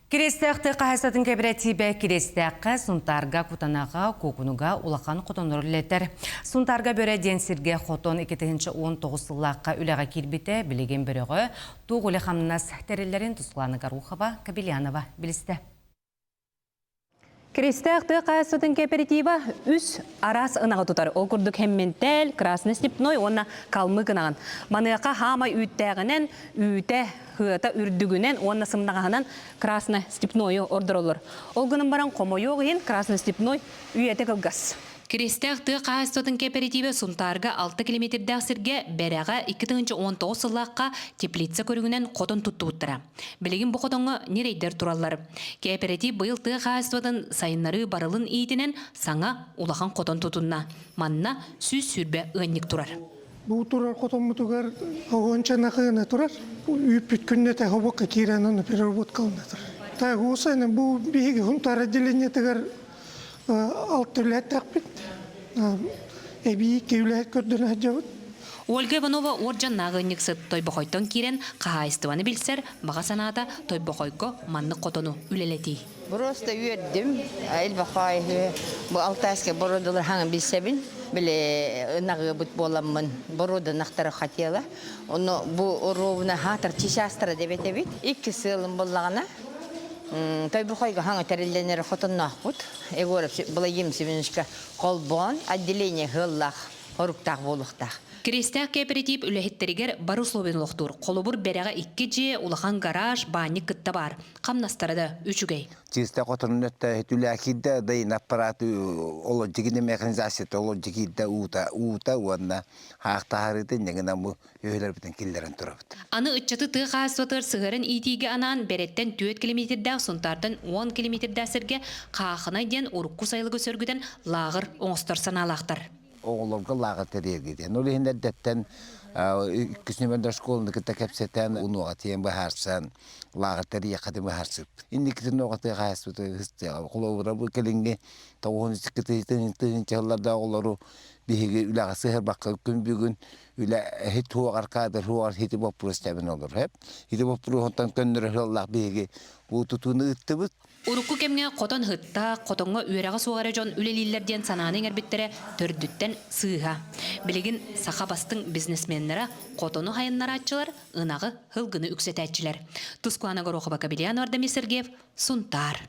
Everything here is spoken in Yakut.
Кириэстээхтик хаһаайыстыбатын кэпэрэтиибэ Кириэстээххэ, Сунтаарга, Кутанаҕа, Куокунуга улахан хотоннору үлэлэтэр. Сунтаарга бөрө диэн сиргэ хотон икки тыһыынча уон тоҕус сыллаахха үлэҕэ киирбитэ, билигин бөрөҕө туох үлэ-хамнас тэриллэрин Туслана Горохова, Кобелянова билистэ. Киристээх тыа хаһаайыстыбатын кооператива үс араас ынаҕы тутар. Ол курдук хэмминтэл, красно степной уонна калмык ынаҕын. Маныаха хаамай үүттээҕинэн, үүтэ, хыата үрдүгүнэн уонна сымнаҕаһынан красно степнойу ордороллор. Ол гынан баран хомойуох иһин красно степной үйэтэ кылгас. Киристээх тыа хаһаайыстыбатын кооператива Сунтаарга 6 километрдээх сиргэ, Бэрэҕэ 2 тыһыынча уон тоҕус сыллаахха теплица көрүҥүнэн хотон туттубуттара. Билигин бу хотоҥҥо ньирэйдэр тураллар. Кээпэрэтиип быйыл тыа хаһаайыстыбатын сайыннарыы барылын иитинэн саҥа улахан хотон тутунна. Манна сүүс сүүрбэ ыанньык турар. Бу турар хотоммутугар уонча нахыына турар. Үүппүт күннэтэ хобокка киирэн ону переработкалана турар. Тайгуса бу биһиги хунтаар отделениетыгар алтылээтэхпит эбии киулэһит көрдөнө сылдьабыт Ольга Иванова уот дьаннааҕы ыанньыксыт Тойбохойтон киирэн хаһаайыстыбаны билсэр, баҕа санаата Тойбохойго маннык хотону үлэлэтии. Просто үөрдүм элбэх айыы бу алтайскай бородулар хаҥын билсэбин били ынаҕыабыт буоламмын боруоданахтара хотела ону бу оруобуна хаатар чичаастара дебет эбит икки сыалым боллагана Тойбохойгоһоҥ тэриллэнэр хотонноохпут Егоров Благим Семеновичка холбоон отделение сыаллаах хоруктаах буолуохтаах. Кириэстээх кээпэрэтиип үлэһиттэригэр бары условиен олохтуур. Холобур, бэрэҕэ икки дьиэ, улахан гараж, баанньык кытта баар. Хамнастара да үчүгэй. Чыыста хотонун өттөөһүт үлэхирдэ, бэйин аппараты олордигини механизацията олордигирдэ уута уута уонна хаахтаһарыытын ньыгынан бу үөһүлэрбитин киллэрэн турабыт. Аны ыччаты тыа хаһаайыстыбатыгар сыһыаран иитиигэ анаан Бэрэттэн түөрт километрдээх Сунтаартан уон километрдээх сиргэ Хаахынай диэн урукку сайылыгы сөргүтэн лааҕыр оҥостор санаалаахтар. Оҕолорго лааҕыр тэрийэргитин. Ол иһин эрдэттэн иккис нөмөрдө школаны кытта кэпсэтэн, унуоҕа тиийэн быһаарсан, лааҕыр тэрийэххитин быһаарсыппыт. Инникитин уоҕа тыа хаһаайыстыбата холобура бу кэлиҥҥи тоҕуһун икки тыһыынча сылларда оҕолору биһиги үлэҕэ сыһарбакка күн бүгүн үлэ туһугар каадырһугар ити боппуруос тэбин олорһеп. Ити боппуруоһуттан көннөрө сыллаах биһиги уу тутууну ыыттыбыт. Урукку кэмҥэ хотон ыһытта, хотоҥҥо үөрэҕэ суох эрэ дьон үлэлииллэр диэн санааны иҥэрбиттэрэ төрдүттэн сыыһа. Билигин саха бастыҥ бизнесменнара хотону хайыннарааччылар, ынаҕы, һылгыны үксэтээччилэр. Тускуана Горохова-Кабельянова Дамир Сергеев, Сунтаар.